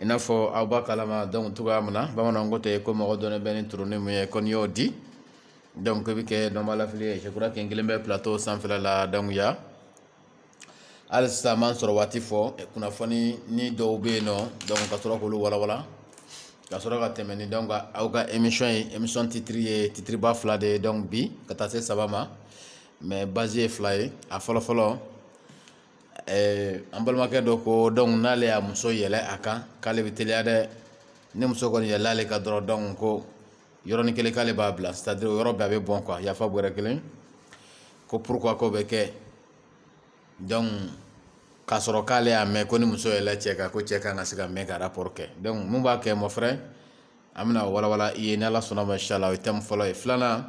i n'a fɔ aw b'a kalama donc cogoya min na bamananw ko tɛ ko mɔgɔ dɔnnen bɛ ni turunin mun ye ko n'i y'o di donc i bɛ kɛ dɔnbaalafili ye je crois que n kelen bɛ plateau sanfɛla la donc ya hali sisan m'an sɔrɔ waati fɔ kunnafoninin dɔw bɛ yen nɔ donc ka sɔrɔ k'olu walawala ka sɔrɔ ka tɛmɛ ni donc aw ka émission ye émission titre ye titreba fila de ye donc bi ka taa se saba ma mais base ye fila ye a fɔlɔfɔlɔ an balimakɛ dɔ ko donc n'ale y'a muso yɛlɛ a kan k'ale bɛ teliya dɛ ni muso kɔni yɛlɛ ale kan dɔrɔn donc ko yɔrɔnin kelen k'ale b'a bila c'est à dire o yɔrɔ bɛɛ a bɛ bɔn quoi yafa bɔrɛ kelen ko pourquoi k'o bɛ kɛ donc k'a sɔrɔ k'ale y'a mɛn ko ni muso yɛlɛ cɛ kan ko cɛ kan ka se ka mɛn ka rapport kɛ donc mun b'a kɛ mon frère an bɛn'a walawala i ye n'ala sɔnna ma inshallah o ye thème fɔlɔ ye filanan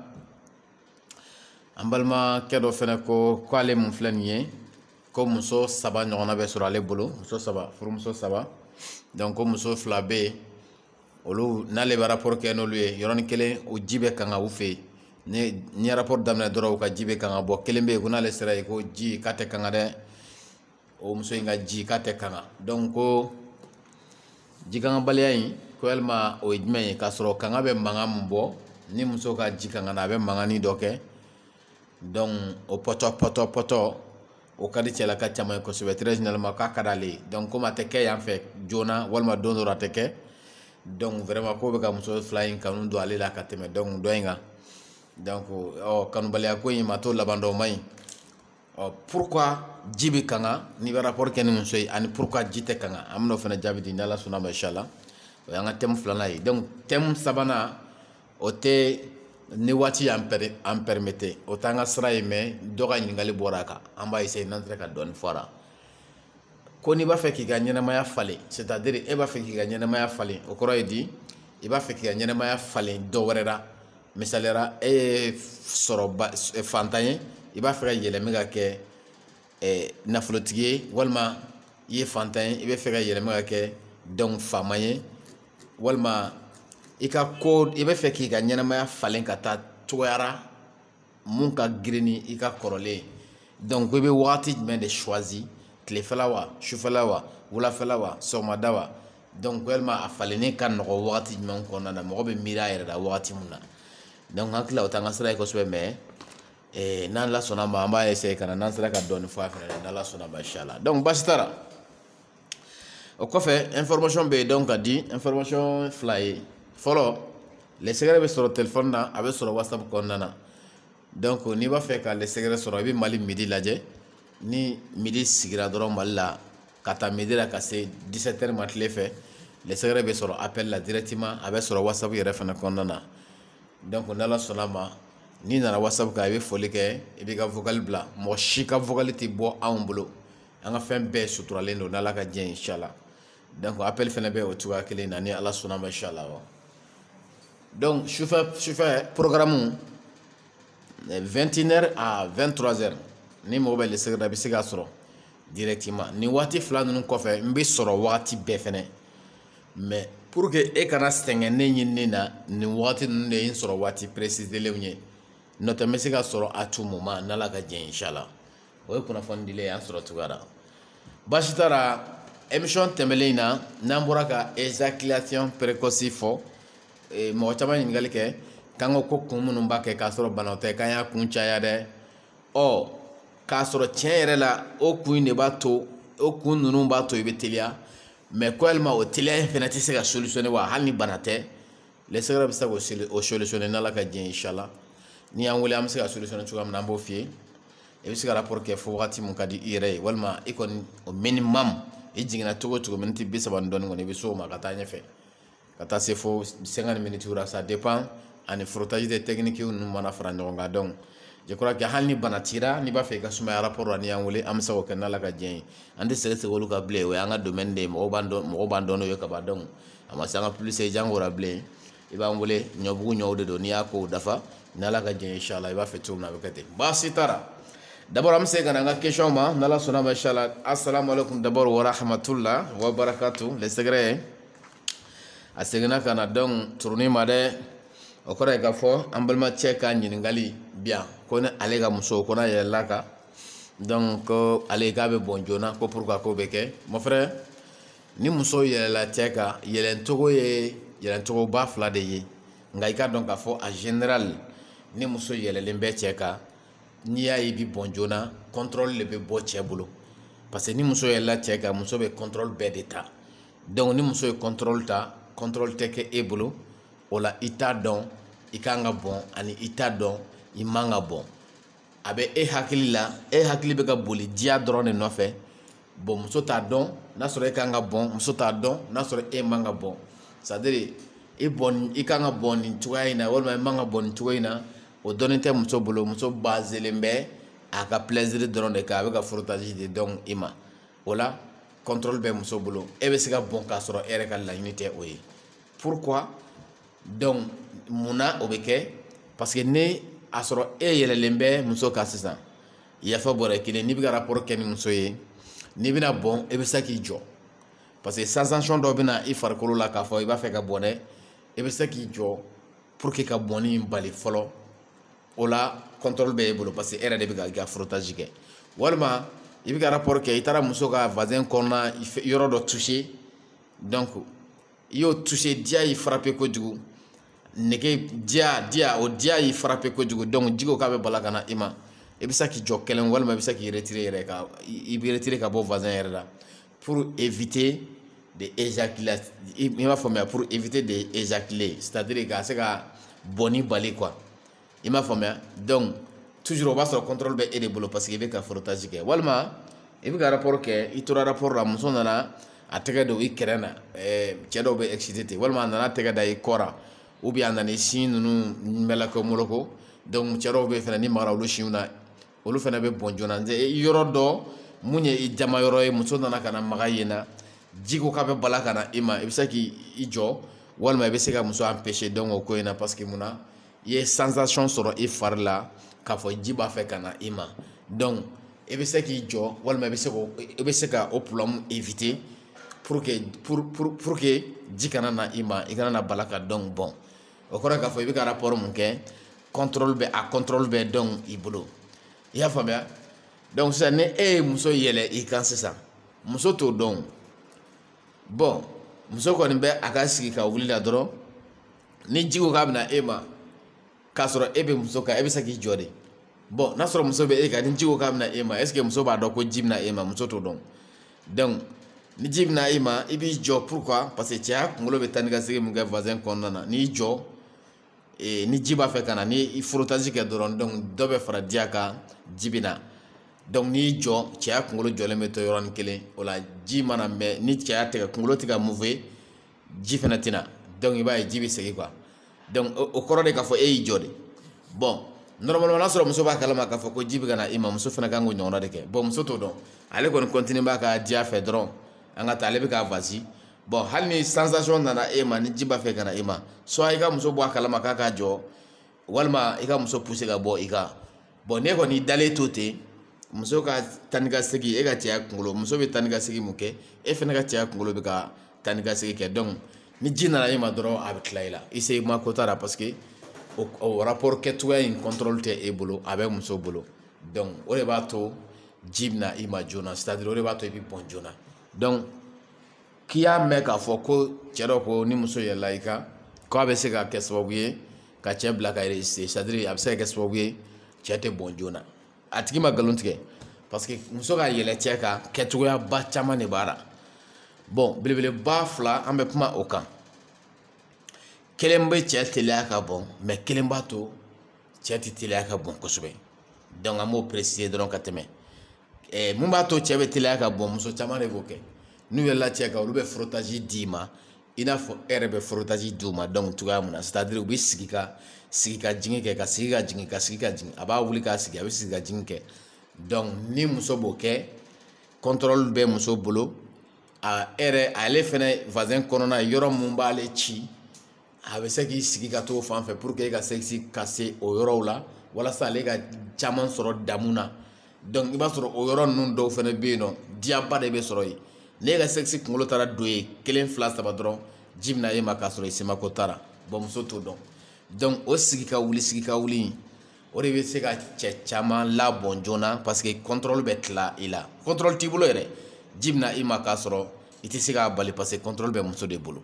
an balimakɛ dɔ fɛnɛ ko k'ale mun filɛ nin ye ko muso saba ɲɔgɔnna bɛ sɔrɔ ale bolo muso saba furumuso saba donc ko muso fila bɛ yen olu n'ale bɛ rapport kɛ n'olu ye yɔrɔnin kelen o ji bɛ kanga u fɛ yen ni ni rapport daminɛ dɔrɔn u ka ji bɛ kanga bɔ kelen bɛ yen ko n'ale sera yen ko ji k'a tɛ kanga dɛ o muso in ka ji k'a tɛ kanga donc ko jikangabaliya in ko yalima o ye jumɛn ye k'a sɔrɔ kanga bɛ mankan mun bɔ ni muso ka ji kanga na a bɛ mankanni dɔ kɛ donc o pɔtɔ pɔtɔ pɔtɔ o ka di cɛla ka caman ye kosɛbɛ très généralement k'a ka d'ale ye donc komi a tɛ kɛ yan fɛ joona walima don dɔ a tɛ kɛ donc vraiment k'o bɛ ka muso fila in kanu don ale la ka tɛmɛ donc dɔ in kan donc ɔ kanubaliya ko in ma t'o laban dɔ man ɲi ɔ pourquoi ji bɛ kanga n'i bɛ rapport kɛ ni muso ye ani pourquoi ji tɛ kanga an bɛn'o fana jaabi di ni ala sɔnna ma inshallah o y'an ka thème filanan ye donc thème sabanan o tɛ ni waati y'an pɛrɛ an permettre o t'an ka sira ye mais dɔ ka ɲininkali bɔra a kan an b'a essayer n'an sera ka dɔɔni fɔ a la ko n'i b'a fɛ k'i ka ɲɛnamaya falen c'est à dire e b'a fɛ k'i ka ɲɛnamaya falen o kɔrɔ ye di i b'a fɛ k'i ka ɲɛnamaya falen dɔ wɛrɛ la misaliya ra e y'i sɔrɔ fantan ye i b'a fɛ ka yɛlɛmɛ ka kɛ nafolotigi ye walima i ye fantan ye i bɛ fɛ ka yɛlɛmɛ ka kɛ donc faama ye walima i ka ko i bɛ fɛ k'i ka ɲɛnamaya falen ka taa cogoya ra mun ka girin ni i ka kɔrɔlen ye donc ko i bɛ wagati jumɛn de choisi tilefɛla wa sufɛla wa wulafɛla wa sɔgɔmada wa donc walima a falenni ka nɔgɔn wagati jumɛn kɔnɔna na mɔgɔ bɛ miiri a yɛrɛ la wagati min na donc an hakili la o t'an ka sira ye kosɛbɛ mais n'ala sɔnna ma an b'a essayer ka na n'an sera ka dɔɔni fɔ a fɛnɛ la n'ala sɔnna ma inshallah donc baasi t'a la o kɔfɛ information bɛ yen donc ka di information fila ye fɔlɔ les secrets bɛ sɔrɔ telefɔni na a bɛ sɔrɔ whatsapp kɔnɔna na donc n'i b'a fɛ ka les secrets sɔrɔ i bɛ mali midi lajɛ ni midi sigira dɔrɔn mali la ka taa midi la ka se 17 heures ma tile fɛ les secrets bɛ sɔrɔ appel la directement a bɛ sɔrɔ whatsapp yɛrɛ fana kɔnɔna na donc n'ala sɔnna ma n'i nana whatsapp kan i bɛ foli kɛ i b'i ka vocal bila mɔgɔ si ka vocal tɛ bɔ anw bolo an ka fɛn bɛɛ suturalen don n'ala ka diɲɛ inshallah donc appel fana bɛ o cogoya kelen na ni ala sɔnna ma inshallah donc sufɛ sufɛ programme 21 heures à 23 heures n'i mago bɛ les secrets la i bɛ se k'a sɔrɔ directement nin waati fila ninnu kɔfɛ n bɛ sɔrɔ wagati bɛɛ fɛnɛ mais pour que e kana sɛgɛn ne ɲinini na nin wagati ninnu de ye n sɔrɔ waati précisélenw ye n'o tɛ n bɛ se ka sɔrɔ à tout moment n'Ala ka diɲɛ inchallah o ye kunnafoni dili y'an sɔrɔ cogoya la baasi t'a la émission tɛmɛlen in na n'an bɔra ka éjaculation précoce fɔ mɔgɔ caman ɲininkali kɛ k'an ko ko kun minnu b'a kɛ k'a sɔrɔ banaw tɛ k'an y'a kun caya dɛ ɔ k'a sɔrɔ tiɲɛ yɛrɛ la o kun in de b'a to o kun ninnu b'a to i bɛ teliya mais ko yalima o teliya in fana tɛ se ka solutionner wa hali ni bana tɛ les secrets bɛ se k'o solutionner n'ala ka diɲɛ inshallah n'i y'an wele an bɛ se k'a solutionner cogoya min na an b'o f'i ye i bɛ se ka rapport kɛ fo wagati min ka di i yɛrɛ ye walima i kɔni o minimum i jiginna cogo o cogo miniti bi saba ni dɔɔni kɔni i bɛ s'o ma ka taa ɲɛfɛ ka taa se fo 50 minutes la ça dépend ani frottage de technique ninnu mana fara ɲɔgɔn kan donc je crois que hali ni bana t'i ra n'i b'a fɛ i ka sumaya rapport la n'i y'an wele an bɛ se k'o kɛ n'ala ka diɲɛ ye an tɛ sigasiga olu kan bilen o y'an ka domaine de ye mɔgɔw b'an dɔn mɔgɔw b'an dɔn n'o ye kaban donc a ma se an ka publicité jan k'o ra bilen i b'an wele ɲɔbugu ɲɔw de don n'i y'a kow dafa ni ala ka jɛn inshallah i b'a fɛ cogo min na a bɛ kɛ ten baasi t'a la d'abord an bɛ se ka na an ka question ma n'ala sɔnna ma inshallah assalamu alaikum d'abord wa rahmatullah wa barakatu le secret a seginna ka na donc turuni ma dɛ o kɔrɔ ye k'a fɔ an balimacɛ ka ɲininkali bi yan ko ni ale ka muso ko n'a yɛlɛla a kan donc ko ale k'a bɛ bɔn joona ko pourquoi k'o bɛ kɛ mon frère ni muso yɛlɛla cɛ kan yɛlɛncogo ye yɛlɛncogoba fila de ye nka i k'a dɔn k'a fɔ en général ni muso yɛlɛlen bɛ cɛ kan n'i y'a ye i bi bɔn joona contrôle de bɛ bɔ cɛ bolo parce que ni muso yɛlɛla cɛ kan muso bɛ contrôle bɛɛ de ta donc ni muso ye contrôle ta contrôle tɛ kɛ e bolo o la i t'a dɔn i kan ka bɔn ani i t'a dɔn i man ka bɔn a bɛ e hakili la e hakili bɛ ka boli diya dɔrɔn de nɔfɛ bon muso t'a dɔn n'a sɔrɔ e kan ka bɔn muso t'a dɔn n'a sɔrɔ e man ka bɔn c'est à dire bon i kan ka bɔn nin cogoya in na walima i man ka bɔn nin cogo in na o dɔnni tɛ muso bolo muso basélen bɛ a ka plaisir dɔrɔn de kan a bɛ ka frottage de dɔn i ma o la contrôle bɛ muso bolo e bɛ se ka bɔn k'a sɔrɔ e yɛrɛ ka laɲini tɛ o ye pourquoi donc mun na o bɛ kɛ parce que ni a sɔrɔ e yɛlɛlen bɛ muso kan sisan yafa bɔra kelen n'i bɛ ka rapport kɛ ni muso ye n'i bɛna bɔn e bɛ se k'i jɔ parce que sensation dɔ bɛ na i farikolo la k'a fɔ i b'a fɛ ka bɔn dɛ e bɛ se k'i jɔ pour que ka bɔnni in bali fɔlɔ o la contrôle bɛ e bolo parce que e yɛrɛ de bɛ ka i ka frottage kɛ walima i bɛ ka rapport kɛ i taara muso ka vagin kɔnɔna yɔrɔ dɔ toucher donc i y'o toucher diya y'i frapper kojugu nege diya diya o diya y'i frapper kojugu donc ji ko k'a bɛ bala ka na i ma i bɛ se k'i jɔ kelen walima i bɛ se k'i retirer yɛrɛ ka i bɛ retirer ka bɔ vagin yɛrɛ la pour éviter de éjaculer i m'a faamuya pour éviter de éjaculer c'est-à-dire ka se ka bɔnni bali quoi i m'a faamuya donc toujours o b'a sɔrɔ contrôle bɛ e de bolo parce que i bɛ ka frottage kɛ walima i bɛ ka rapport kɛ i tora rapport la muso nana a tɛgɛ don i kɛrɛ na cɛ dɔw bɛ excité ten walima a nana tɛgɛ da i kɔ la ou bien a nana i sin ninnu mɛlɛkɛ moloko donc cɛ dɔw bɛ yen fɛnɛ n'i magara olu sinw na olu fɛnɛ bɛ bɔn joona yɔrɔ dɔ mun ye i jama yɔrɔ ye muso nana ka na maga yen na ji ko k'a bɛ bala ka na i ma i bɛ se k'i jɔ walima i bɛ se ka muso empêcher donc o ko in na parce que mun na i ye sensation sɔrɔ i fari la k'a fɔ ji b'a fɛ ka na i ma donc i bɛ se k'i jɔ walima i bɛ se k'o i bɛ se ka o problème éviter pour que pour pour pour que ji kana na i ma i kana na bala ka donc bon o kɔrɔ k'a fɔ i bɛ ka rapport mun kɛ contrôle bɛ a contrôle bɛ donc i bolo i y'a faamuya donc sisan ni e ye muso yɛlɛ i kan sisan muso t'o dɔn bon muso kɔni bɛ a ka sigi ka wuli la dɔrɔn ni ji ko k'a bɛna e ma k'a sɔrɔ e bɛ muso kan e bɛ se k'i jɔ de bon n'a sɔrɔ muso bɛ e kan ni ji ko k'a bɛna e ma est-ce que muso b'a dɔn ko ji bɛna e ma muso t'o dɔn donc ni ji bɛna e ma i b'i jɔ pourquoi parce que cɛya kunkolo bɛ taa ni ka segin min kɛ vagin kɔnɔna na n'i jɔ ee ni ji b'a fɛ ka na ni i frottage kɛ dɔrɔn donc dɔ bɛ fara diya kan ji bɛ na donc n'i jɔ cɛya kunkolo jɔlen bɛ to yɔrɔnin kelen o la ji mana mɛn ni cɛya tɛgɛ kunkolo tɛ ka move ji fɛnɛ tɛ na donc i b'a ye ji bɛ segin quoi donc o kɔrɔ de k'a fɔ e y'i jɔ de bon normalement n'a sɔrɔ muso b'a kalama k'a fɔ ko ji bɛ ka na i ma muso fɛnɛ kan k'o ɲɔgɔnna de kɛ bon muso t'o dɔn ale kɔni continue b'a ka diya fɛ dɔrɔn an ka taa ale bɛ ka vas-y bon hali ni sensation nana e ma ni ji b'a fɛ ka na e ma soit i ka muso bɔ a kalama k'a k'a jɔ walima i ka muso pousser ka bɔ i kan bon n'e kɔni dalen to ten muso ka taa ni ka segin e ka cɛya kunkolo muso bɛ taa ni ka segin mun kɛ e fɛnɛ ka cɛya kunkolo bɛ ka taa ni ka segin kɛ donc ni ji nana e ma dɔrɔn a bɛ tila i la i se ma ko t'a la parce que o o rapport kɛcogoya in contrôle tɛ e bolo a bɛ muso bolo donc o de b'a to ji bɛ na i ma joona c'est à dire o de b'a to i bɛ bɔn joona donc k'i y'a mɛn k'a fɔ ko cɛ dɔ ko ni muso yɛlɛla i kan k'a bɛ se ka kɛ sababu ye ka cɛ bila ka résister c'est à dire a bɛ se ka kɛ sababu ye cɛ tɛ bɔn joona a tigi ma nkalon tigɛ parce que muso ka yɛlɛ cɛ kan kɛcogoyaba caman de b'a la bon belebeleba fila an bɛ kuma o kan kelen bɛ cɛ teliya ka bɔn mais kelen b'a to cɛ tɛ teliya ka bɔn kosɛbɛ donc an b'o préciser dɔrɔn ka tɛmɛ mun b'a to cɛ bɛ teliya ka bɔn muso caman de b'o kɛ n'u yɛlɛla cɛ kan olu bɛ frottage d'i ma i n'a fɔ e yɛrɛ bɛ frottage d'u ma cogoya min na u bɛ sigi ka sigi ka jigin kɛ ka sigi ka jigin ka sigi ka jigin a b'a wuli k'a sigi a bɛ sigi ka jigin kɛ ni muso b'o kɛ contrôle bɛ muso bolo a e yɛrɛ ale fɛnɛ vagin kɔnɔna yɔrɔ mun b'ale ci a bɛ se k'i sigi ka t'o fan fɛ pour que e ka sexe ka se o yɔrɔw la walasa ale ka caman sɔrɔ damu na donc i b'a sɔrɔ o yɔrɔ ninnu dɔw fana bɛ yen nɔ diyaba de bɛ sɔrɔ yen n'e ka sexe kunkolo taara don yen kelen fila saba dɔrɔn ji bɛ na e ma k'a sɔrɔ i semako taara bon muso t'o dɔn donc o sigi ka wuli sigi ka wuli in o de bɛ se ka cɛ caman labɔn joona parce que contrôle bɛ tila i la contrôle t'i bolo yɛrɛ ji bɛ na i ma k'a sɔrɔ i tɛ se k'a bali parce que contrôle bɛ muso de bolo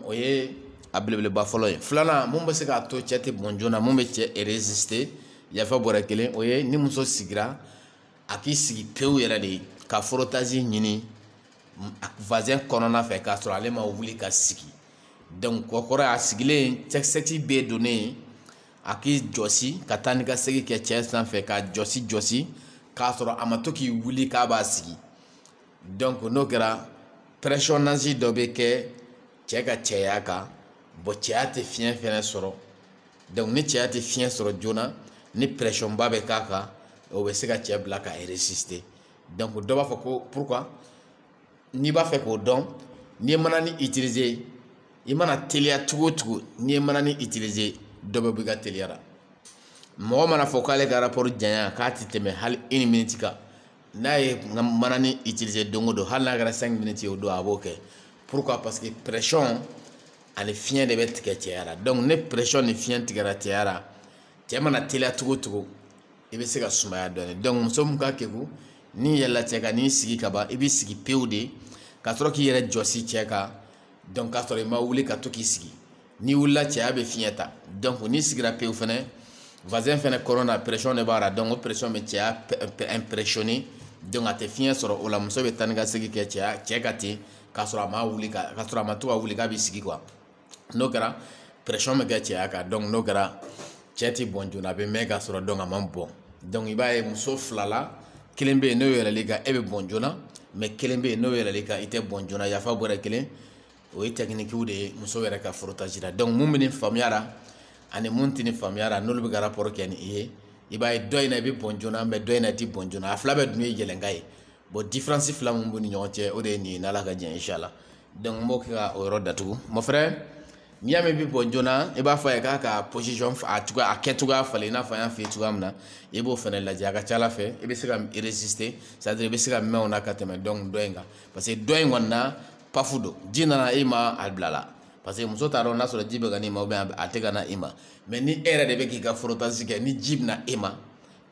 o ye a belebeleba fɔlɔ ye filanan mun bɛ se k'a to cɛ tɛ bɔn joona mun bɛ cɛ résister yafa bɔrɛ kelen o ye ni muso sigira a k'i sigi pewu yɛrɛ de ka frottage ɲini vagin kɔnɔna fɛ k'a sɔrɔ ale ma wuli ka sigi donc o kɔrɔ a sigilen sexe bɛ donnen a k'i jɔsi ka taa ni ka segin kɛ cɛ sanfɛ ka jɔsi jɔsi k'a sɔrɔ a ma to k'i wuli k'a b'a sigi donc n'o kɛra pressionnage dɔ bɛ kɛ cɛ ka cɛya kan bon cɛya tɛ fiɲɛ fɛnɛ sɔrɔ donc ni cɛya tɛ fiɲɛ sɔrɔ joona ni pression ba bɛ k'a kan o bɛ se ka cɛ bila ka résister donc dɔ b'a fɔ ko pourquoi n'i b'a fɛ k'o dɔn n'i ye manani utiliser i mana teliya cogo o cogo n'i ye manani utiliser dɔ bɛ bɔ i ka teliya la mɔgɔ mana fɔ k'ale ka rapport janya k'a tɛ tɛmɛ hali une minute kan n'a ye manani utiliser don o don hali n'a kɛra 5 minutes ye o don a b'o kɛ pourquoi parce que pression ani fiɲɛ de bɛ tigɛ cɛya la donc ni pression ni fiɲɛ tigɛra cɛya la cɛ mana teliya cogo o cogo i bɛ se ka sumaya dɔɔni donc muso min ka keku n'i yɛlɛla cɛ kan n'i sigi ka ban i b'i sigi pewu de ka sɔrɔ k'i yɛrɛ jɔsi cɛ kan donc k'a sɔrɔ i ma wuli ka to k'i sigi n'i wulila cɛya bɛ fiɲɛ ta donc n'i sigira pewu fɛnɛ vagin fɛnɛ kɔnɔna pression de b'a la donc o pression bɛ cɛya impressionner donc a tɛ fiɲɛ sɔrɔ o la muso bɛ taa ni ka segin kɛ cɛya cɛ kan ten k'a sɔrɔ a ma wuli ka k'a sɔrɔ a ma to ka wuli k'a bɛ sigi quoi n'o kɛra pression bɛ kɛ cɛya kan donc n'o kɛra cɛ ti bɔn joona a bɛ mɛn k'a sɔrɔ donc a ma bɔn donc i b'a ye muso fila la kelen bɛ yen n'o yɛlɛl'i kan e bɛ bɔn joona mais kelen bɛ yen n'o yɛlɛl'i kan i tɛ bɔn joona yafa bɔra kelen o ye techniquew de ye muso yɛrɛ ka frottage la donc mun bɛ nin faamuya la ani mun tɛ nin faamuya la n'olu bɛ ka rapport kɛ ni i ye i b'a ye dɔ in na i bɛ bɔn joona mais dɔ in na i tɛ bɔn joona a fila bɛɛ dun ye yɛlɛnka ye bon différence fila mun b'u ni ɲɔgɔn cɛ o de ye nin ye n'ala ka jɛn inshallah donc n b'o kɛ ka o yɔrɔ datugu mon frère n'i y'a mɛn i bɛ bɔn joona i b'a fɔ a ye k'a ka position a cogoya a kɛ cogoya falen i n'a fɔ an y'a f'i ye cogoya min na i b'o fana lajɛ a ka ca ala fɛ i bɛ se ka résister c'est à dire i bɛ se ka mɛn o la ka tɛmɛ donc dɔ in kan parce que dɔ in kɔni na pafu don ji nana i ma a bilala parce que muso t'a dɔn n'a sɔrɔ ji bɛ ka n'i ma ou bien a tɛ ka na i ma mais ni e yɛrɛ de bɛ k'i ka frottage kɛ ni ji bɛ na e ma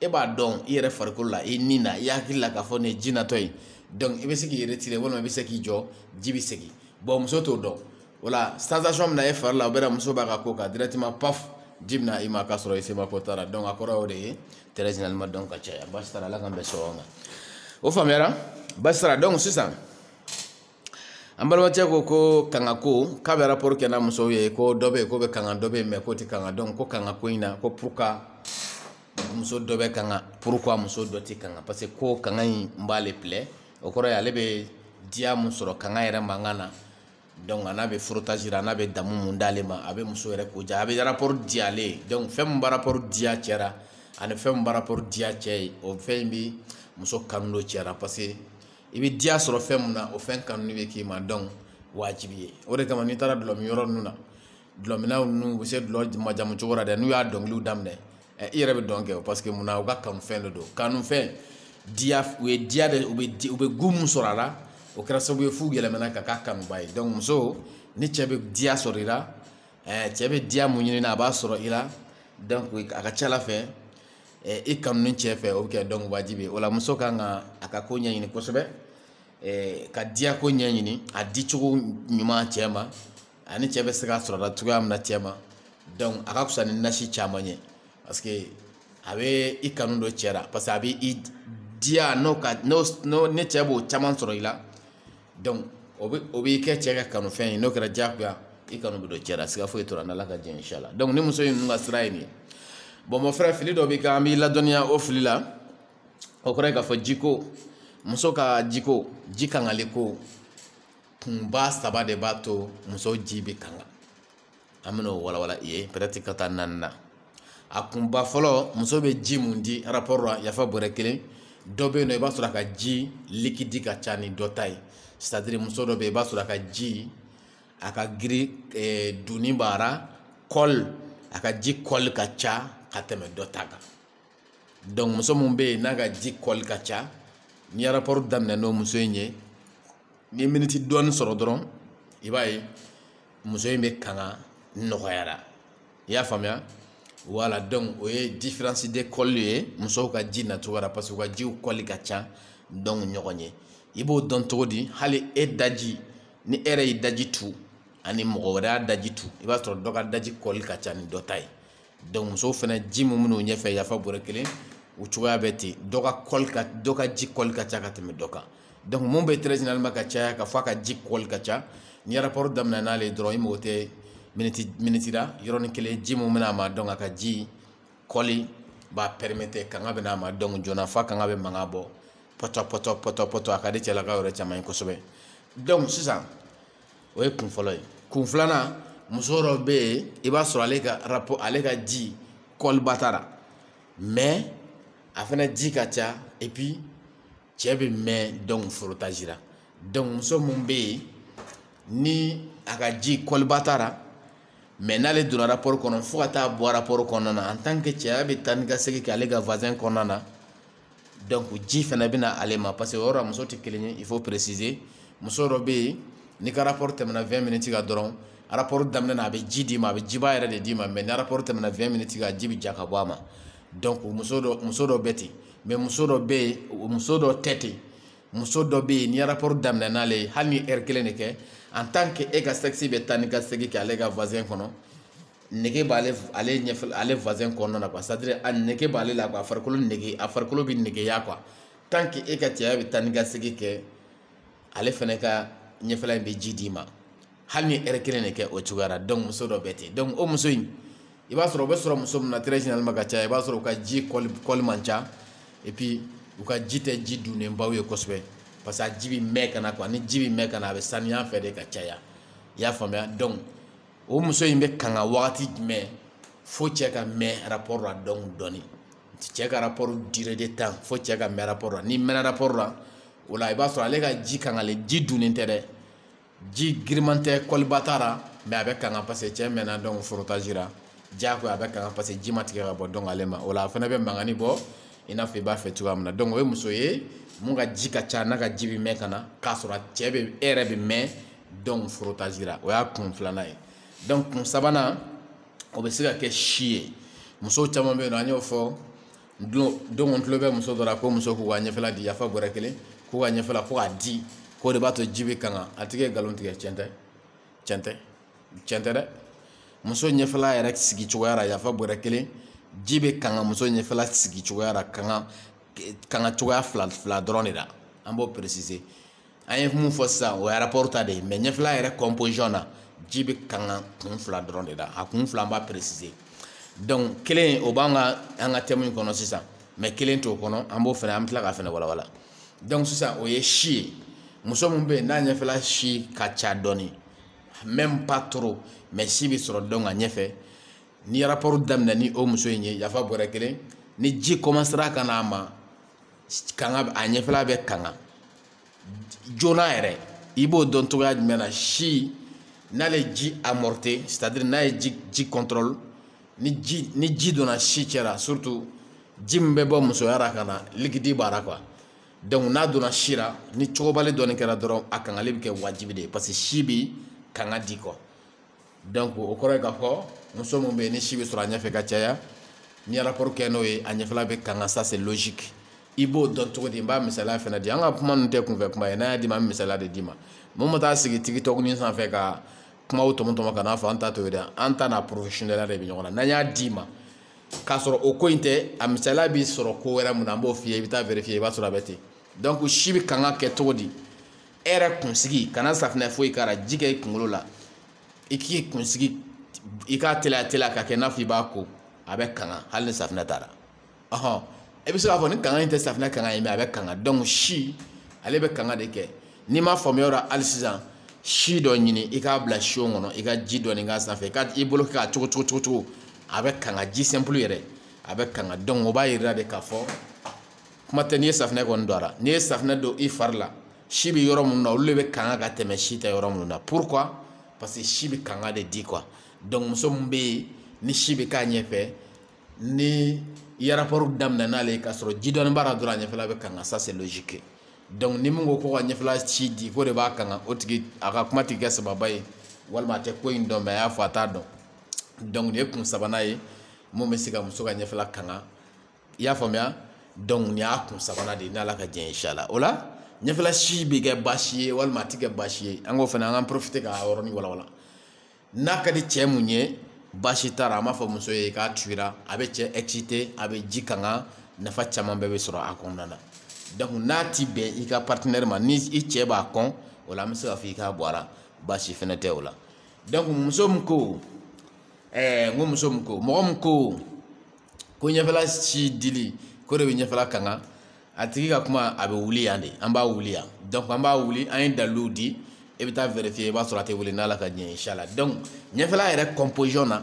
e b'a dɔn i yɛrɛ farikolo la i ni na i hakili la k'a fɔ nin ye ji natɔ ye donc i bɛ se k'i retirer walima i bɛ se k'i jɔ ji bɛ segin bon muso t'o dɔn o la sensation min na e fari la o bɛ na muso b'a ka ko kan directement paf ji bɛ na i ma k'a sɔrɔ i sema ko t'a la donc a kɔrɔ y'o de ye très généralement donc ka caya basi t'a la ala k'an bɛn sɔgɔma o faamuyara basi t'a la donc sisan an balimacɛ ko ko kanga ko k'a bɛ rapport kɛ n'a musow ye ko dɔ bɛ yen k'o bɛ kanga dɔ bɛ yen mais k'o tɛ kanga donc ko kanga ko in na ko pourquoi muso dɔ bɛ kanga pourquoi muso dɔ tɛ kanga parce que ko kanga in n b'ale plaît o kɔrɔ ye ale bɛ diya mun sɔrɔ kanga yɛrɛ mankan na donc a n'a bɛ frottage la a n'a bɛ damu mun d'ale ma a bɛ muso yɛrɛ ko diya a bɛ rapport diya ale ye donc fɛn min b'a rapport diya cɛ la ani fɛn min b'a rapport diya cɛ ye o fɛn in bɛ muso kanu don cɛ la parce que i bɛ diya sɔrɔ fɛn min na o fɛn kanuni bɛ k'i ma donc wajibi ye o de kama n'i taara dulɔmin yɔrɔ ninnu na dulɔminnaw ninnu u bɛ se dulɔ majamu cogo la dɛ n'u y'a dɔnkiliw daminɛ ɛ i yɛrɛ bɛ dɔn kɛ o parce que mun na u ka kanufɛn de don kanufɛn diya u ye diya de u bɛ u bɛ goût mun sɔrɔ a la o kɛra sababu ye f'u yɛlɛmana ka k'a kanubaa ye donc muso ni cɛ bɛ diya sɔrɔ i la ɛɛ cɛ bɛ diya mun ɲini na a b'a sɔrɔ i la donc a ka ca ala fɛ ɛɛ i kanuni cɛ fɛ o bɛ kɛ donc wajibi ye o la muso kan ka a ka ko ɲɛɲini kosɛbɛ ɛɛ ka diya ko ɲɛɲini a di cogo ɲuman cɛ ma ani cɛ bɛ se ka sɔrɔ la cogoya min na cɛ ma donc a ka fisa ni nasi caman ye parce que a bɛ i kanu don cɛ la parce que a bɛ i diya n'o ka n'o n'o ni cɛ b'o caman sɔrɔ i la donc o bɛ o b'i kɛ cɛ ka kanufɛn ye n'o kɛra diyagoya i kanu bɛ don cɛ la siga foyi t'o la n'ala ka jɛn insha Allah donc ni muso in ninnu ka sira ye nin ye bon mon frère fili dɔ b'i kan an b'i ladɔnniya o fili la o kɔrɔ ye k'a fɔ jiko muso ka jiko ji kangali ko kunba saba de b'a to muso ji bɛ kanga an bɛna o walawala i ye peut-être ka taa naani na a kunba fɔlɔ muso bɛ ji mun di rapport la yafa bɔrɛ kelen dɔ bɛ yen nɔ i b'a sɔrɔ a ka ji liquide ka ca ni dɔ ta ye c'est-à-dire muso dɔ bɛ yen i b'a sɔrɔ a ka ji a ka giri eh, dunni b'a la kɔli a ka ji kɔli ka ca ka tɛmɛ dɔ ta kan donc muso min bɛ yen n'a ka ji kɔli ka ca ni rapport daminɛ n'o muso in ye n'i ye miniti dɔɔni sɔrɔ dɔrɔn i b'a ye muso in bɛ kanga nɔgɔya la i y'a faamuya voilà donc o ye différence de kɔli ye musow ka ji nacogo la parce que u ka jiw kɔli ka ca donc ɲɔgɔn ye i b'o dɔn cogo di hali e daji ni e yɛrɛ y'i daji tu ani mɔgɔ wɛrɛ y'a daji tu i b'a sɔrɔ dɔ ka daji kɔli ka ca ni dɔ ta ye musow fana ji mun bɛ n'u ɲɛfɛ yafa bɔrɛ kelen u cogoya bɛ ten dɔ ka kɔli ka dɔ ka ji kɔli ka ca ka tɛmɛ dɔ kan donc mun bɛ très généralement ka caya ka fɔ a ka ji kɔli ka ca ni rapport daminɛ n'ale ye dɔrɔn i mago tɛ miniti miniti la yɔrɔnin kelen ji mun bɛ n'a ma donc a ka ji kɔli b'a permettre kanga bɛ n'a ma donc joona f'a kanga bɛ mankan bɔ pɔtɔ pɔtɔ pɔtɔ pɔtɔ a ka di cɛlakaw yɛrɛ caman ye kosɛbɛ donc sisan o ye kun fɔlɔ ye kun filanan muso dɔ bɛ yen i b'a sɔrɔ ale ka rapo ale ka ji kɔliba t'a la mais a fana ji ka ca et puis cɛ bɛ mɛn donc frottage la donc muso min bɛ yen ni a ka ji kɔliba t'a la mais n'ale donna rapport kɔnɔ fo ka taa bɔ rapport kɔnɔna na en tant que cɛya bɛ taa ni ka segin kɛ ale ka vagin kɔnɔna na donc ji fana bɛ na ale ma parce que o yɔrɔ muso tɛ kelen ye il faut préciser muso dɔ bɛ yen n'i ka rapport tɛmɛna 20 minutes kan dɔrɔn rapport daminɛ na a bɛ ji d'i ma a bɛ jiba yɛrɛ de d'i ma mais ni rapport tɛmɛna 20 minutes kan ji bɛ ja ka bɔ a ma donc muso dɔ muso dɔ bɛ ten mais muso dɔ bɛ yen muso dɔ tɛ ten muso dɔ bɛ yen ni rapport daminɛ n'ale ye hali ni heure kelen de kɛ en tant que e ka sexe bɛ taa ni ka segin kɛ ale ka vagin kɔnɔ nege b'ale ale ɲɛfɛ ale vagin kɔnɔna na parce que a nege b'ale la a farikolo nege a farikolo bɛ negeya quoi tant que e ka cɛya bɛ taa ni ka segin kɛ ale fana ka ɲɛfɛla in bɛ ji d'i ma hali ni heure kelen de kɛ o cogoya la donc muso dɔ bɛ ten donc o muso in i b'a sɔrɔ o bɛ sɔrɔ muso min na très généralement ka caya i b'a sɔrɔ u ka ji kɔli kɔli man ca et puis u ka ji tɛ ji dunnenbaw ye kosɛbɛ parce que a ji bɛ mɛn ka na quoi ni ji bɛ mɛn ka na a bɛ sanuya fɛ de ka caya i y'a faamuya donc o muso in bɛ kanga wagati jumɛn fo cɛ ka mɛn rapport la donc dɔɔni cɛ ka rapport durée de temps fo cɛ ka mɛn rapport la n'i mɛnna rapport la o la i b'a sɔrɔ ale ka ji kangalen ji dunnen tɛ dɛ ji giriman tɛ kɔliba t'a la mais a bɛ kanga parce que cɛ mɛnna donc frottage la diyagoya a bɛ kanga parce que ji ma tigɛ ka bɔ donc ale ma o la a fana bɛ mangani bɔ i n'a fɔ i b'a fɛ cogoya min na donc o ye muso ye min ka ji ka ca n'a ka ji bɛ mɛn ka na k'a sɔrɔ cɛ bɛ e yɛrɛ bɛ mɛn donc frottage la o y'a kun filanan ye donc kun sabanan o bɛ se ka kɛ si ye muso caman bɛ yen nɔ an y'o fɔ don o n tulo bɛ muso dɔ la ko muso k'u ka ɲɛfɛla di yafa bɔrɛ kelen k'u ka ɲɛfɛla ko k'a di k'o de b'a to ji bɛ kanga a tigi ye nkalon tigɛ tiɲɛ tɛ tiɲɛ tɛ tiɲɛ tɛ dɛ muso ɲɛfɛla yɛrɛ sigi cogoya la yafa bɔrɛ kelen ji bɛ kanga muso ɲɛfɛla sigi cogoya la kanga kanga cogoya fila fila dɔrɔn de la an b'o préciser an ye mun fɔ sisan o ye rapport ta de ye mais ɲɛfɛla yɛrɛ composition na ji bɛ kanga kun fila dɔrɔn de la a kun fila an b'a préciser donc kelen o b'an ka an ka thème in kɔnɔ sisan mais kelen t'o kɔnɔ an b'o fana an bɛ tila k'a fana walawala donc sisan o ye si ye muso min bɛ yen n'a ɲɛfɛla si ka ca dɔɔni même pas trop mais si bɛ sɔrɔ donc a ɲɛfɛ ni rapport daminɛ ni o muso in ye yafa bɔrɛ kelen ni ji commencera ka na a ma kanga a ɲɛfɛla bɛ kanga joona yɛrɛ i b'o dɔn cogoya jumɛn na si n'ale ye ji amorté c'est à dire n'a ye ji ji contrôle ni ji ni ji donna si cɛ la surtout ji min bɛ bɔ musoya la ka na liquide b'a la quoi donc n'a donna si la ni cogobali dɔɔni kɛra dɔrɔn a kangali bɛ kɛ wajibi de ye parce que si bi kanga di quoi donc o kɔrɔ ye k'a fɔ muso min bɛ yen ni si bɛ sɔrɔ a ɲɛfɛ ka caya ni rapport kɛ n'o ye a ɲɛfɛla bɛ kanga ça c'est logique i b'o dɔn cogo di n b'a misaliya fana di an ka kuma ninnu tɛ kunfɛ kuma ye n'an y'a d'i ma an bɛ misaliya de d'i ma min bɛ taa sigi tiktok ni sanfɛ ka kumaw tɔmɔ tɔmɔ ka n'a fɔ an ta t'o ye dɛ an ta n'a professionnel de bɛ ɲɔgɔn na n'an y'a d'i ma k'a sɔrɔ o ko in tɛ a misaliya bɛ sɔrɔ ko wɛrɛ min na an b'o f'i ye i bɛ taa vérifier i b'a sɔrɔ a bɛ ten donc si bɛ kanga kɛ cogo di e yɛrɛ kunsigi kana safinɛ foyi k'a la ji kɛ i kunkolo la i k'i kunsigi i k'a teliya teliya ka kɛ i n'a fɔ i b'a ko a bɛ kanga hali ni safinɛ t'a la ɔhɔn e bɛ se k'a fɔ ni kanga in tɛ safinɛ kanga ye mais a bɛ kanga donc si ale bɛ kanga de kɛ n'i ma faamuya o la hali sisan si dɔ ɲini i k'a bila siyon kɔnɔ i ka ji dɔɔni k'a sanfɛ i ka i bolo kɛ k'a cogo cogo cogo cogo a bɛ kanga ji simple yɛrɛ a bɛ kanga donc o b'a yira de k'a fɔ kuma tɛ n'i ye safinɛ kɔni don a la n'i ye safinɛ don i fari la si bɛ yɔrɔ minnu na olu de bɛ kanga ka tɛmɛ si tɛ yɔrɔ minnu na pourquoi parce que si bɛ kanga de di quoi donc muso min bɛ yen ni si bɛ k'a ɲɛfɛ ni i ye rapport daminɛ n'ale ye k'a sɔrɔ ji dɔɔni b'a la dɔrɔn a ɲɛfɛla bɛ kanga ça c'est logique donc ni min ko ko ka ɲɛfɛla si di k'o de b'a kanga o tigi a ka kuma tɛ kɛ sababa ye walima a tɛ ko in dɔn mais a y'a fɔ a t'a dɔn donc nin ye kun sabanan ye mun bɛ se ka muso ka ɲɛfɛla kanga i y'a faamuya donc nin y'a kun sabanan de ye n'ala ka diɲɛ inshala o la ɲɛfɛla si bɛ kɛ baasi ye walima a tɛ kɛ baasi ye an k'o fana an k'an profiter k'a yɔrɔnin walawala n'a ka di cɛ mun ye baasi t'a la an b'a fɔ muso ye k'a to i la a bɛ cɛ exciter a bɛ ji kanga nafa caman bɛɛ bɛ sɔrɔ a kɔnɔna na donc n'a ti bɛn i ka partenaire ma ni i cɛ b'a kɔn o la an bɛ se k'a fɔ i k'a bɔ a la baasi fɛnɛ tɛ o la donc muso min ko ɛɛ n ko muso min ko mɔgɔ min ko ko ɲɛfɛla si dili k'o de bɛ ɲɛfɛla kanga a tigi ka kuma a bɛ wuli yan de an b'a wuli yan donc an b'a wuli an ye daliluw di e bɛ taa vérifier i b'a sɔrɔ a tɛ wuli n'ala ka diɲɛ inshallah donc ɲɛfɛla yɛrɛ composition na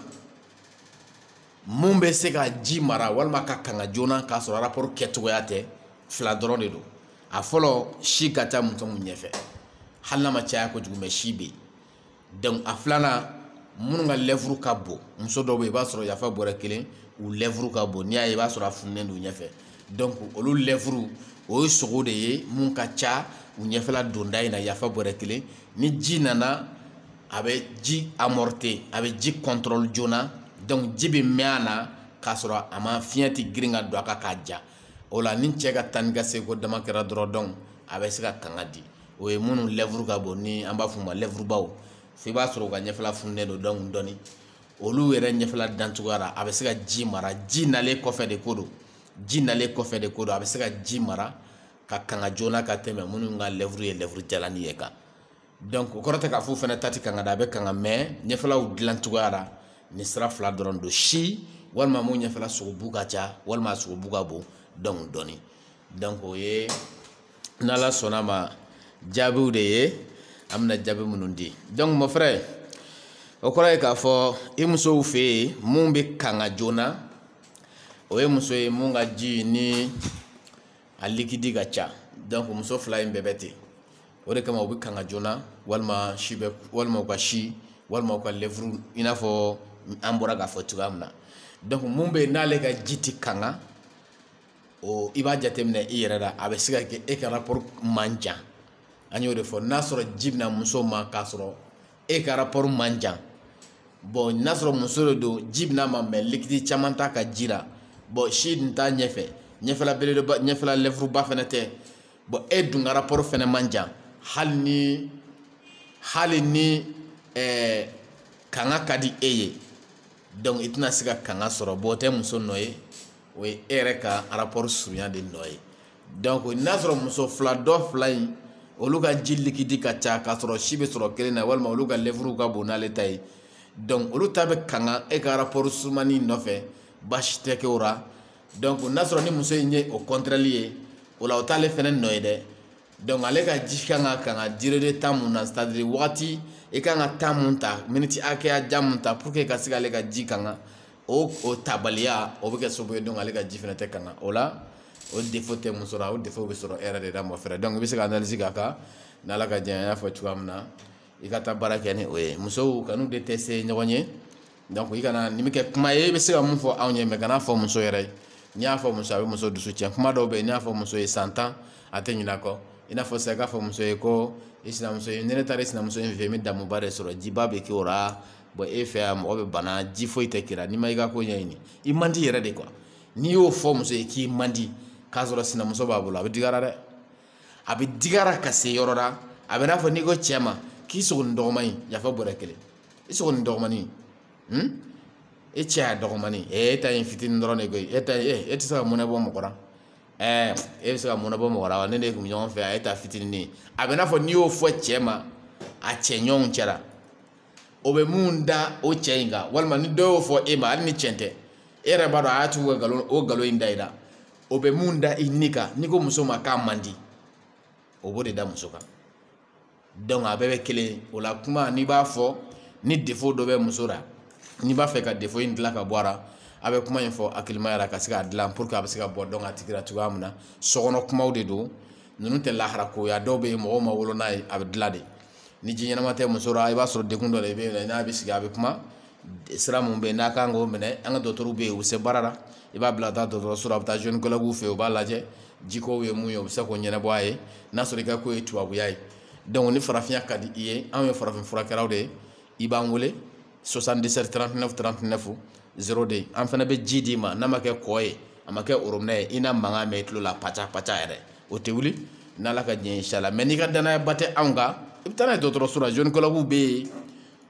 mun bɛ se ka ji mara walima ka kanga joona k'a sɔrɔ rapport kɛcogoya tɛ fila dɔrɔn de don a fɔlɔ si ka ca muso mun ɲɛfɛ hali n'a ma caya kojugu mais si bɛ yen donc a filanan minnu ka lèvre ka bon muso dɔw bɛ yen i b'a sɔrɔ yafa bɔrɛ kelen u lèvre ka bon n'i y'a ye i b'a sɔrɔ a fununen don ɲɛfɛ donc olu lèvre o ye sogo de ye mun ka ca u ɲɛfɛla donda in na yafa bɔrɛ kelen ni ji nana a bɛ ji amorte a bɛ ji contrôle joona donc ji bɛ mɛn a na k'a sɔrɔ a ma fiɲɛ tɛ girin ka don a kan k'a ja o la ni cɛ ka taa ni ka segin ko dama kɛra dɔrɔn donc a bɛ se ka kanga di o ye minnu lèvre ka bon ni an b'a f'u ma lèvrebaw fo i b'a sɔrɔ u ka ɲɛfɛla fununen don dɔɔni dɔɔni olu yɛrɛ ɲɛfɛla dancogoya la a bɛ se ka ji mara ji nalen kɔfɛ de ko don ji nalen kɔfɛ de ko don a bɛ se ka ji mara ka kanga joona ka tɛmɛ minnu ka lèvre ye lèvre jalani ye kan donc o kɔrɔ tɛ k'a fɔ fana ta tɛ kanga dɛ a bɛ kanga mais ɲɛfɛlaw dilan cogoya la nin sira fila dɔrɔn don si walima mun ɲɛfɛla sogobu ka ca walima a sogobu ka bon dɔɔni dɔɔni donc o ye n'ala sɔnna ma jaabiw de ye an bɛna jaabi minnu di donc mon frère o kɔrɔ ye k'a fɔ i musow fɛ yen mun bɛ kanga joona o ye muso ye mun ka ji ni a liquide ka ca donc muso fila in bɛɛ bɛ ten o de kama u bɛ kanga joona walima si bɛ walima u ka si walima u ka lèvre i n'a fɔ an bɔra k'a fɔ cogoya min na donc mun bɛ yen n'ale ka ji tɛ kanga o i b'a jateminɛ i yɛrɛ la a bɛ se ka kɛ e ka rapport man jan an y'o de fɔ n'a sɔrɔ ji bɛ na muso ma k'a sɔrɔ e ka rapport man jan bon n'a sɔrɔ muso de don ji bɛ n'a ma mais liquide caman t'a ka ji la bon si dun t'a ɲɛfɛ ɲɛfɛla belebeleba ɲɛfɛla lèvre ba fɛnɛ tɛ bon e dun ka rapport fɛnɛ man jan hali ni hali ni ɛɛ kanga ka di e ye donc i tɛna se ka kanga sɔrɔ bon o tɛ muso nɔ ye o ye e yɛrɛ ka rapport surunya de nɔ ye donc n'a sɔrɔ muso fila dɔ fila in olu ka ji liquide ka ca k'a sɔrɔ si bɛ sɔrɔ kelen na walima olu ka lèvre ka bon n'ale ta ye donc olu ta bɛ kanga e ka rapport surumani nɔfɛ baasi tɛ kɛ o la donc n'a sɔrɔ ni muso in ye o contraire ye o la o t'ale fɛnɛ nɔ ye dɛ donc ale ka ji kan ka kanga durée de temps mun na c'est à dire wagati i kan ka temps mun ta miniti hakɛya jan mun ta pour que ka se k'ale ka ji kanga o o tabaliya o bɛ kɛ sababu ye donc ale ka ji fɛnɛ tɛ kanga o la o défaut tɛ muso la o défaut bɛ sɔrɔ e yɛrɛ de la mon frère donc i bɛ se ka analyse k'a kan n'ala ka diɲɛ an y'a fɔ cogoya min na i ka taa baara kɛ ni o ye musow kan'u détester ɲɔgɔn ye donc i kana nin bɛ kɛ kuma ye i bɛ se ka mun fɔ anw ye mais kan'a fɔ muso yɛrɛ ye n'i y'a fɔ muso a bɛ muso dusu tiɲɛ kuma dɔw bɛ yen n'i y'a fɔ muso ye san tan a tɛ ɲinɛ a kɔ i n'a fɔ sisan i k'a fɔ muso ye ko i sinamuso ye ni ne taara i sinamuso in fɛ yen n bɛ damuba de sɔrɔ jiba bɛ kɛ o la bon e fɛ yan mɔgɔ bɛ bana ji foyi tɛ k'i ra n'i ma i ka ko ɲɛɲini i man di yɛrɛ de quoi n'i y'o fɔ muso ye k'i man di k'a sɔrɔ sinamuso b'a bolo a bɛ dig'a ra dɛ a bɛ dig'a ra ka se yɔrɔ la a bɛ n'a fɔ n'i ko cɛ ma k'i sogonin dɔgɔmanin yafa bɔrɛ kelen i sogonin dɔgɔmani hmm? e cɛya dɔgɔmani ee e ta ye fitinin dɔrɔn de koyi e ta ye e tɛ se ka mɔnɛ bɔ mɔgɔ la ɛɛ e bɛ se ka mɔnɛ bɔ mɔgɔ la wa ne de tun bɛ ɲɔgɔn fɛ a ye ta fitinin a bɛ n'a fɔ n'i y'o fɔ cɛ ma a cɛ ɲɔgɔnw cɛla o bɛ mun da o cɛ in kan walima ni dɔ y'o fɔ e ma hali ni cɛn tɛ e yɛrɛ b'a dɔn a y'a tugu ka nkalon o nkalon in da i la o bɛ mun da i ni kan n'i ko muso ma k'a man di o b'o de da muso kan a bɛɛ bɛ kelen ye o la kuma n'i b'a fɔ ni défaut dɔ bɛ muso la n'i b'a fɛ ka défaut in dilan ka bɔ a la a bɛ kuma in fɔ hakilimaya la ka se k'a dilan pour que a bɛ se ka bɔ donc a tigi ra cogoya min na sokɔnɔ kumaw de don ninnu tɛ lahara ko ye a dɔw bɛ yen mɔgɔw ma wolo n'a ye a bɛ dilan de ni ji ɲɛnama tɛ muso la i b'a sɔrɔ degun dɔ de bɛ yen n'a bɛ sigi a bɛ kuma sira mun bɛ yen n'a kan k'o minɛ an ka dɔgɔtɔrɔw bɛ yen u bɛ se baara la i b'a bila taa dɔgɔtɔrɔso la a bɛ taa gynécologue fɛ yen u b'a lajɛ jikow ye mun ye u bɛ se k'o ɲɛnabɔ a ye n'a sɔrɔ i ka ko ye tubabuya ye donc ni farafinya ka di i ye anw ye farafin furakɛlaw de ye i b'an wele 77 39 39 02 an fana bɛ ji d'i ma n'a ma kɛ kɔ ye a ma kɛ orobinɛ ye i n'a mankan mɛn i tulo la paca paca yɛrɛ o tɛ wuli n'ala ka diɲɛ inshallah mais n'i ka danayaba tɛ anw kan i bɛ taa n'a ye dɔgɔtɔrɔso la gynécologuew bɛ yen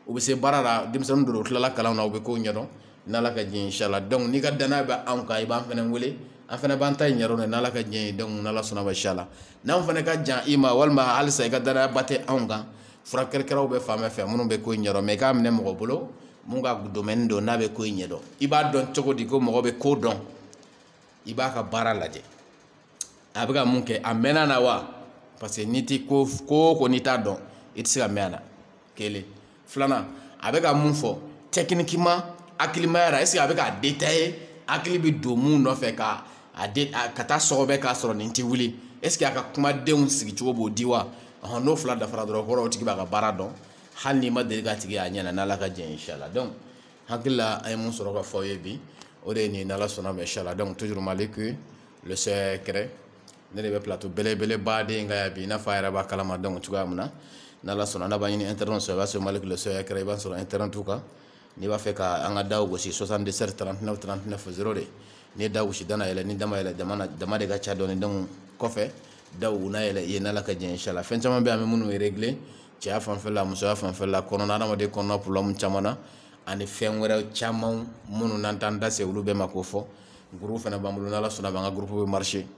u bɛ se baara la denmisɛnnin dɔw tilala kalan na u bɛ kow ɲɛdɔn n'ala ka diɲɛ inshallah donc n'i ka danaya bɛ anw kan i b'an fana wele an fana b'an ta in ɲɛdɔn dɛ n'ala ka diɲɛ ye donc n'ala sɔnna ma inshallah n'anw fana ka jan i ma walima halisa i ka danayaba tɛ anw kan furakɛlikɛlaw bɛ fan bɛɛ fɛ minnu bɛ ko in ɲɛdɔn mais i k'a minɛ mɔgɔ bolo mun ka domaine don n'a bɛ ko in ɲɛdɔn i b'a dɔn cogo di ko mɔgɔ bɛ ko dɔn i b'a ka baara lajɛ a bɛ ka mun kɛ a mɛnna na wa parce que n'i ti ko ko ko n'i t'a dɔn i tɛ se ka mɛn a la kelen filanan a bɛ ka mun fɔ techniquement hakilimaya la est-ce que a bɛ k'a détailler hakili bɛ don mun nɔfɛ ka a den a ka taa sɔgɔbɛ k'a sɔrɔ nin tɛ wuli est-ce que a ka kumadenw sigicogo b'o di wa ɔhɔn n'o fila dafara dɔrɔn kɔrɔ o tigi b'a ka baara dɔn hali n'i ma deli k'a tigi y'a ɲɛ na n'ala ka jɛn inshala donc hakili la an ye mun sɔrɔ ka fɔ aw ye bi o de ye nin n'ala sɔnna ma inshala donc toujours malik le secret ne de bɛ plateau belebeleba de in ka yan bi i n'a fɔ a yɛrɛ b'a kalama donc cogoya min na n'ala sɔnna n'a b'a ɲini internet sɔrɔ i b'a sɔrɔ malik le secret i b'a sɔrɔ internet kan n'i b'a fɛ ka an ka da gosi 77 39 39 02 n'i ye da gosi da na yɛlɛ ni da ma yɛlɛ jama na jama de ka ca dɔɔni donc kɔfɛ daw u na yɛlɛ i ye n'ala ka jɛ inshallah fɛn caman bɛ an bɛ minnu régler cɛya fanfɛla la musoya fanfɛla la kɔnɔna adamaden kɔnɔna problème caman na ani fɛn wɛrɛ caman minnu n'an t'an da se olu bɛɛ ma k'o fɔ groupe fana b'an bolo n'ala sɔnna a b'an ka groupe bɛ marcher